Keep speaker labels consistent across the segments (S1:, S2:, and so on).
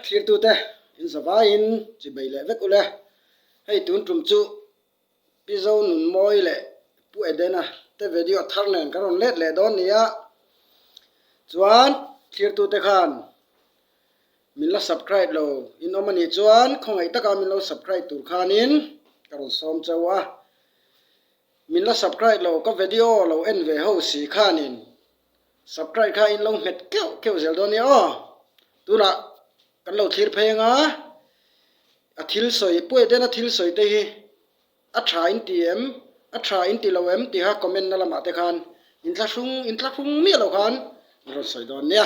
S1: Thliktute, in za vaiin chhi bei leh vek u le. Hei tun tum chu Pizo Nunmawi leh Pu Edena te vedio thar nen kan rawn let leh dawn nia. Chuan Thliktute khan min la subcribe lo in awm a nih chuan khawngaih taka min lo subcribe tur khanin ka rawn sawm chau a. Min la subcribe lo ka vedio lo en ve ho si khanin. Subcribe kha in lo nghet keuh keuh zel dawn nia aw tunah kan lo thlir phei anga a thil sawi Pu Edena thil sawi te hi a tha in ti em a tha in ti lo em tihah comment na lamah te khan in tla hrung in tla hrung miah lo khan rawn sawi dawn nia.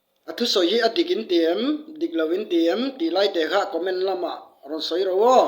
S1: A thu sawi hi a dik in ti em, dik lo in ti em tih lai teh kha comment lamah rawn sawi ro aw.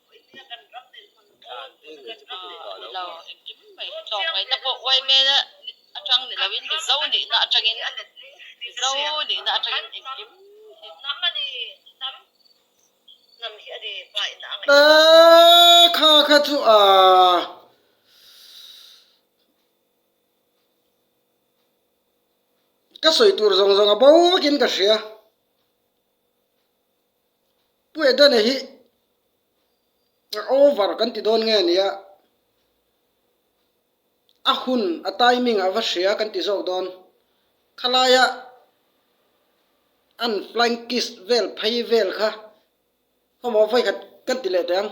S1: Ka sawi tur zawng zawng a bo vak in ka hria. Pueda nei hi over kan ti dawn nge nia, a hun a timing a va hria kan ti zawk dawn. Khalaia an flying kiss vel phei vel kha khawmual vawi khat kan ti leh teh ang.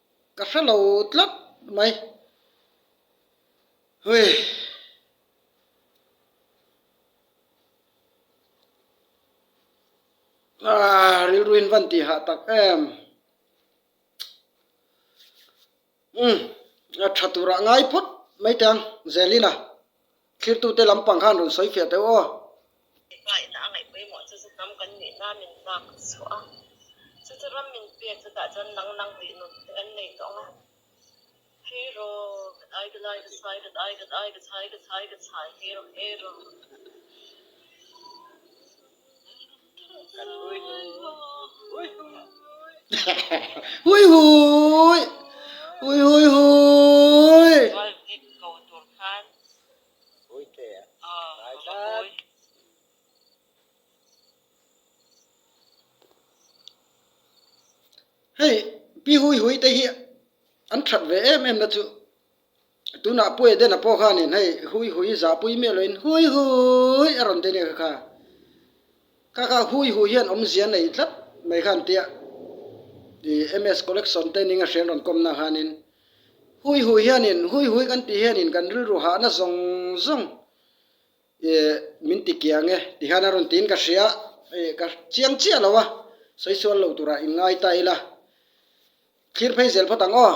S1: Ka hre lo tlat mai. Aaa rilru in van ti hah tak em. Umm a tha turah ngai phawt mai tiang Zelina. Thirtute lam pang khan rawn sawi fiah teh aw. Tikah ina a ngaih pawimawh chu zuk lam kan nih na min lak chhuah a, chu chu ram min pek chu tah chuan nang nang tih nun te kan nei tawh ang a. Hei ro, ka dai ka dai ka chhai ka dai ka dai ka chhai ka chhai ka chhai hei rawh hei rawh. Hei pi hui hui te hi an that ve em em na chu. Tunah Pu Edena pawh khanin hei Hui Hui zahpui miah lohin Hui Hui a rawn ti ania ka kha. Ka kha Hui Hui hian awmzia nei tlat mai kha an tia. I MS collection te ninga hreng rawn kawmna khanin Hui Hui hianin Hui Hui kan tih hianin kan rilru hahna zawng zawng i min ti kiang e ti khan a rawn tiin ka hria i ka chiang chiah lo a sawi sual lo turah in ngai ta ila thlir phei zel phawt ang aw.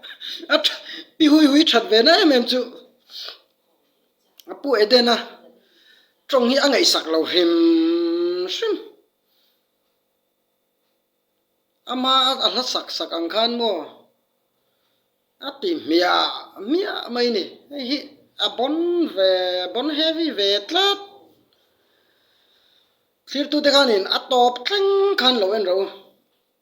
S1: a pi hui hui that ve na em em chu a pu edena tawng hi a ngaihsak lo hrim hrim ama a hla sak sak ang khan maw a pi hmiah hmiah mai a ni hei hi a bawn ve a bawn heavy ve tlat thlir tute khan in a tawp thleng khan lo en reh u.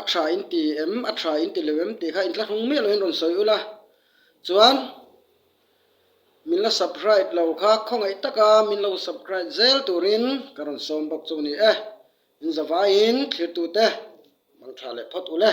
S1: A tha in ti em a tha in ti lo em tih kha intla hrung miah loin rawn sawi ula chuan min la subcribe lo kha khawngaih taka min lo subcribe zel turin ka rawn sawm bawk chu a ni e. Min za vaiin thlirtute man tha leh phawt ule.